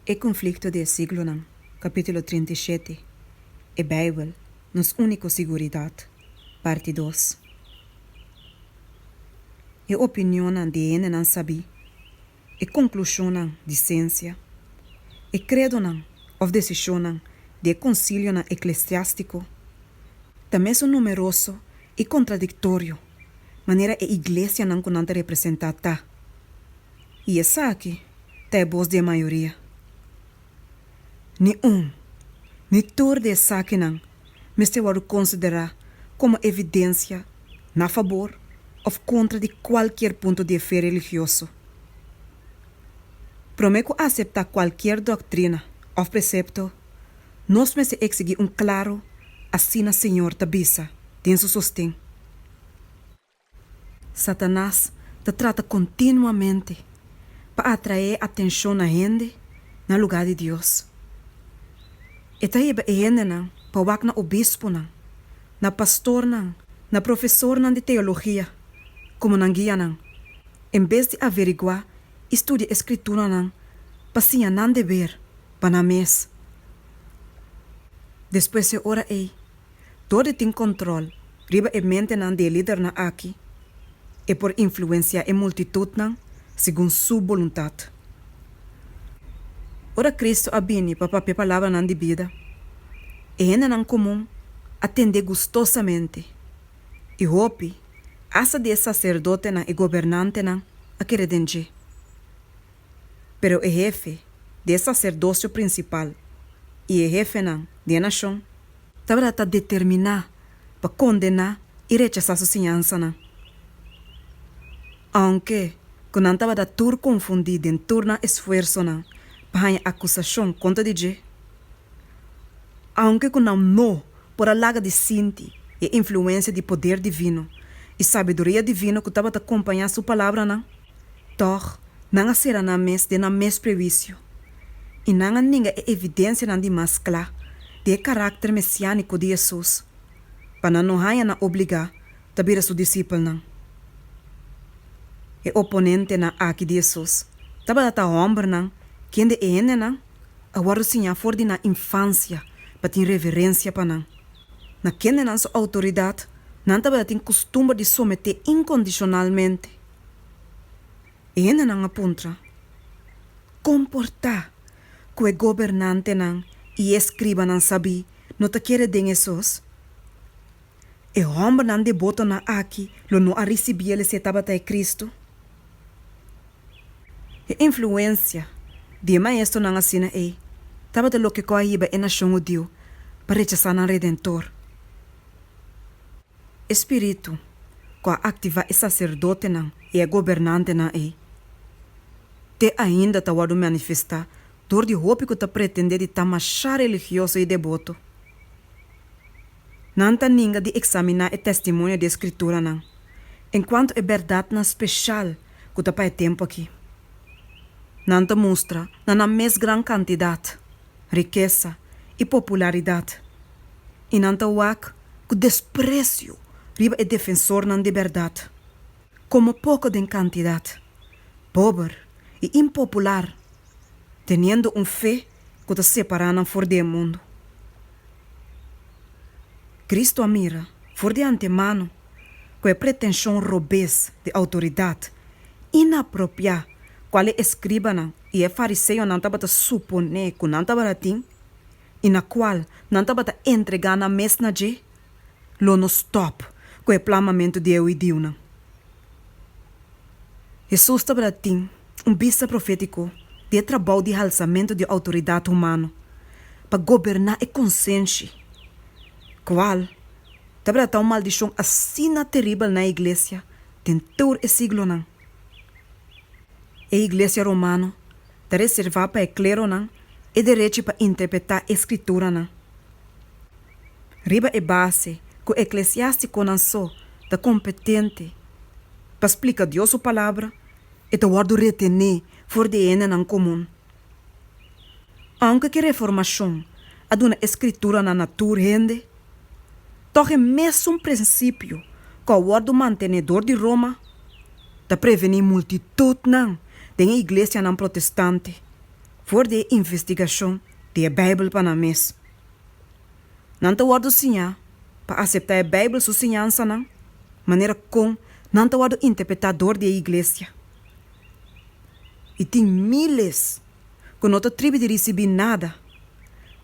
E Konflikto di e Siglonan, kapítulo trinta i shete, E Beibel, nos úniko siguridat, parti dos. E opinionnan di hendenan sabí, e konklushonnan di siensia, e kredonan òf desishonnan di e konsilionan eklesiástiko, ta mes un numeroso i kontradiktorio manera e iglesianan ku nan ta representá ta. I esaki ta e bos di e mayoria. Ni un, ni tur di esakinan mester wòrdu konsiderá komo evidensia na fabor òf kontra di kualkier punto di e fe religioso. Promé ku aseptá kualkier dòktrina òf presepto, nos mester eksigí un klaru Asina Señor ta bisa, den su sosten. Satanas ta trata kontinuamente pa atraé atenshon na hende na lugá di Dios. E ta heba e hendenan pa wak na obisponan, na pastornan, na profesornan di teologia komo nan guia nan, en bes di averiguá i studia e Skrituranan pa siña nan deber pa nan mes. Despues e ora ei. Todo e tin control riba e mentenan di e lidernan aki. E por influencia e multitudnan segun su boluntad. Ora Cristo a bini pa papia palabranan di bida, e hendenan comun a tende gustosamente, i hopi hasta di e sacerdotenan i gobernantenan a kere den dje. Pero e hefe di e saserdosio prinsipal i e hefenan di e nashon tabata ta determiná pa kondená i rechasá su siñansanan. Aunke ku nan tabata tur konfundí den tur nan esfuersonan pa haña akusashon kontra di dje, aunke ku nan no por a laga di sinti e influensia di poder divino i sabiduria divino ku tabata kompañá su palabranan, Tòg, nan a sera nan mes den nan mes prewisio i nan a ninga e evidensianan di mas kla di e karakter mesiániko di Hesus pa nan no haña nan obligá ta bira su disipelnan. E oponentenan akí di Hesus tabata ta hòmbernan kende e hendenan a wòrdu siñá for di nan infansia pa tin reverensia pa nan. Na kendenan su outoridat nan tabata tin kustumber di someté inkondishonalmente. E hendenan a puntra, Kon por ta ku e gobernantenan i e skribanan sabí no ta kere den e sos? E hòmbernan debotonan aki lo no a risibí el esei tabata e Kristu? E influensia di e maestronan asina ei tabata loke kò a hiba e nashon hudiu pa rechasá nan Redentor. E spiritu ku a aktivá e saserdotenan i e gobernantenan ei te ainda ta wòrdu manifestá dor di hopi ku ta pretendé di ta masha religioso i deboto. Nan ta ninga di eksaminá e testimonio di e Skrituranan enkuanto e bèrdatnan speshal ku ta pa e tempu aki. Nan ta mustra na nan mes gran kantidat, rikesa i popularidat, i nan ta wak ku despresio riba e defensornan di bèrdat, komo poko den kantidat, pober i impopular, teniendo un fe ku ta separá nan for di e mundu. Kristu a mira for di antemano ku e pretenshon robes di outoridat inapropiá kual e eskribanan i e fariseonan tabata suponé ku nan tabata tin, i na kual nan tabata entregá nan mes na dje, lo no stòp ku e plamamentu di e huidiunan. Hesus tabata tin un bista profétiko di e trabou di halsamentu di outoridat humano pa goberná e konsenshi, kual tabata ta un maldishon asina teribel na e iglesia den tur e siglonan. E iglesia romano Ta reservá pa e kleronan e derechi pa interpretá e Skrituranan riba e base ku eklesiástikonan so ta kompetente pa splika Dios su Palabra, e ta wòrdu retené for di e hendenan komun. Ounke ku e Reformashon a duna e Skrituranan na tur hende, Tog e mesun prinsipio cu a wordo mantenedor di Roma ta preveni multitudnan den e iglesianan protestante for di e investigacion di e Bijbel pa nan mes. Nan ta wordo siña pa acepta e Bijbel su siñansanan manera con nan ta wordo interpreta dor di e iglesia. I tin miles ku no ta tribi di risibí nada,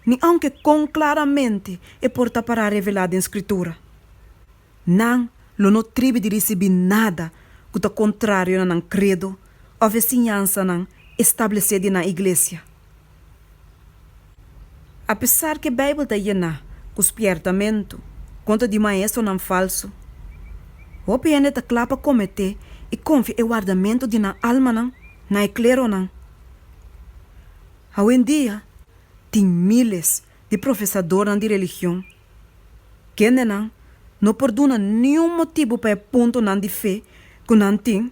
ni aunke kon klaramente e por ta pará revelá den Skritura. Nan lo no tribi di risibí nada ku ta kontrario na nan kredo òf e siñansanan establesé di nan iglesia. Apesar ku e Beibel ta yená ku spièrtamentu kontra di maestronan falsu, hopi hende ta kla pa kometé i konfia e wardamentu di nan almanan na e kleronan. Awendia, tin míles di profesadornan di religion. Kendenan no por duna niun motibu pa e puntonan di fe ku nan tin,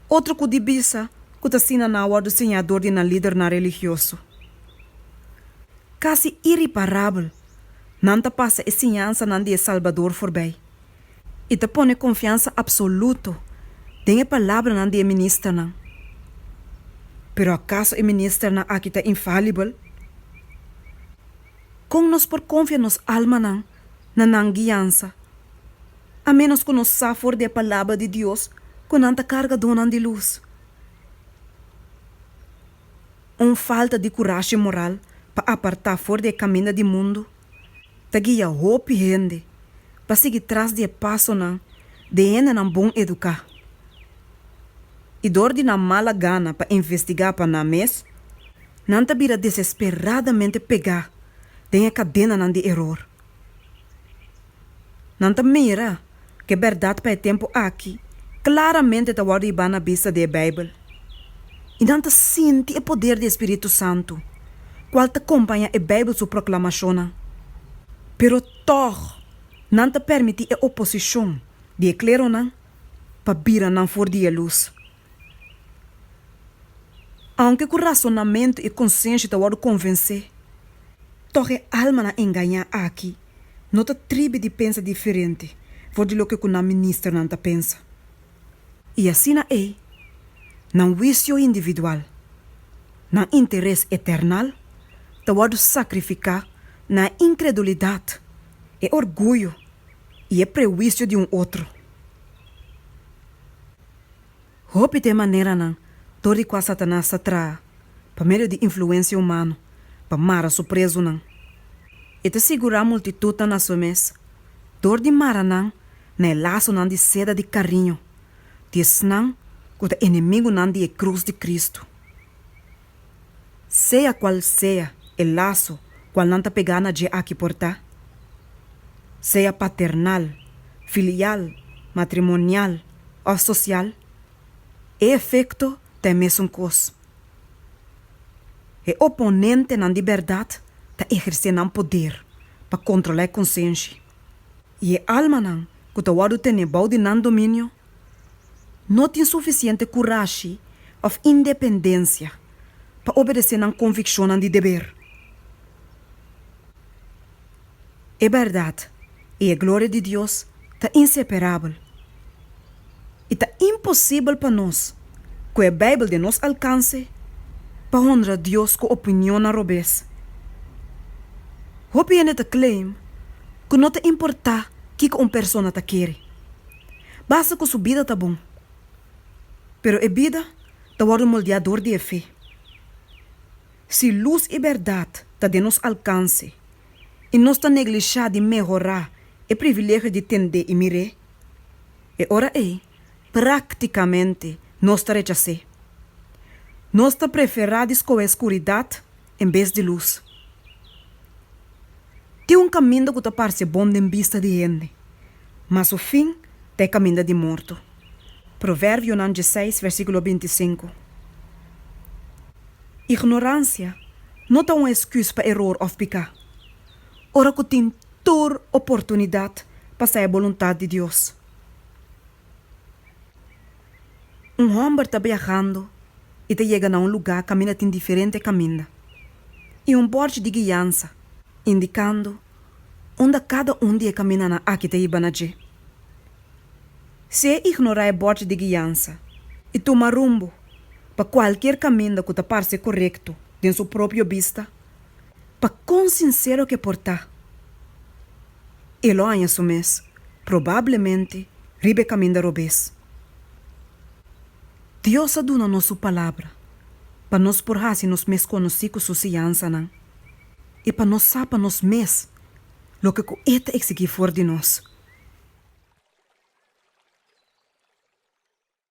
otro ku di bisa ku ta asina nan a wòrdu siñá dor di nan lidernan religioso. Kasi iriparabel, nan ta pasa e siñansanan di e Salbador forbei i ta pone konfiansa apsoluto den e palabranan di e ministernan. Pero akaso e ministernan aki ta infalibel? Kon nos por konfia nos almanan na nan guiansa, a ménos ku nos sa for di e Palabra di Dios ku nan ta kargadónan di lus? Un falta di kurashi moral pa apartá for di e kaminda di mundu ta guia hopi hende pa sigui tras di e pasonan di hendenan bon eduká. i dor di nan mala gana pa investigá pa nan mes, nan ta bira desesperadamente pegá den e kadenanan di eror. Nan ta mira ku e bèrdat pa e tempu aki klaramente ta wòrdu hibá na bista di e Beibel, i nan ta sinti e poder di e spiritu santu, kual ta kompaña e Beibel su proklamashonnan. Pero tòg nan ta permití e oposishon di e kleronan pa bira nan for di e lus. Aunke ku rasonamentu i konsenshi ta wòrdu konvensé, tòg e almanan engañá aki no ta tribi di pensa diferente for di loke ku nan ministernan ta pensa. I asina ei, nan wisio individual, nan interes eternal ta wòrdu sakrifiká na e inkredulidat, e orguyo, i e prehuisio di un otro. Hopi ta e maneranan dor di kua Satanas ta traha pa medio di influensia humano pa mara su prezunan. E ta sigurá multitutnan na su mes dor di mara nan na e lasonan di seda di kariño di esnan ku ta enemigunan di e krus di Kristu. sea cual sea e laso cual nan ta pegá na dje aki por ta, sea paternal, filial, matrimonial of social, e efecto ta e mesun cos. E oponentenan di berdad ta ehercé nan poder pa controla e consenshi, y e almanan cu ta wordo tené bou di nan dominio no tin sufisiente kurashi òf independensia pa obedesé nan konvikshonnan di deber. E bèrdat i e gloria di Dios ta inseperabel, i ta imposibel pa nos, ku e Beibel den nos alkanse, pa honra Dios ku opinionnan robes. Hopi hende ta claim ku no ta importá kiko un persona ta kere. Basta ku su bida ta bon. Pero e bida ta wòrdu moldeá dor di e fe. Si lus i bèrdat ta den nos alkanse i nos ta neglishá di mehorá e privilegio di tend'é i mir'é, e ora ei práktikamente nos ta rechas'é. Nos ta preferá di skohé skuridat en bes di lus. Tin un kaminda ku ta parse bon den bista di hende, ma su fin ta e kaminda di morto. Proverbionan djeseis, versíkulo binti sinku. Ignoransia no ta un esküs pa eror òf piká, ora ku tin tur oportunidat pa sa e boluntat di Dios. Un hòmber ta biahando i ta yega na un lugá kaminda tin diferente kaminda i un bòrchi di guiansa indikando unda kada un di e kamindanan aki ta hiba na dje. Si e ignorá e bòrchi di guiansa i tuma rumbo pa kualkier kaminda ku ta parse korekto den su propio bista, pa kon sinsero ke por ta? e lo haña su mes, probablemente riba e caminda robes. Dios a duna nos su Palabra pa nos por haci nos mes conoci cu su siansanan y pa nos sa pa nos mes loke cu E ta exigí for di nos.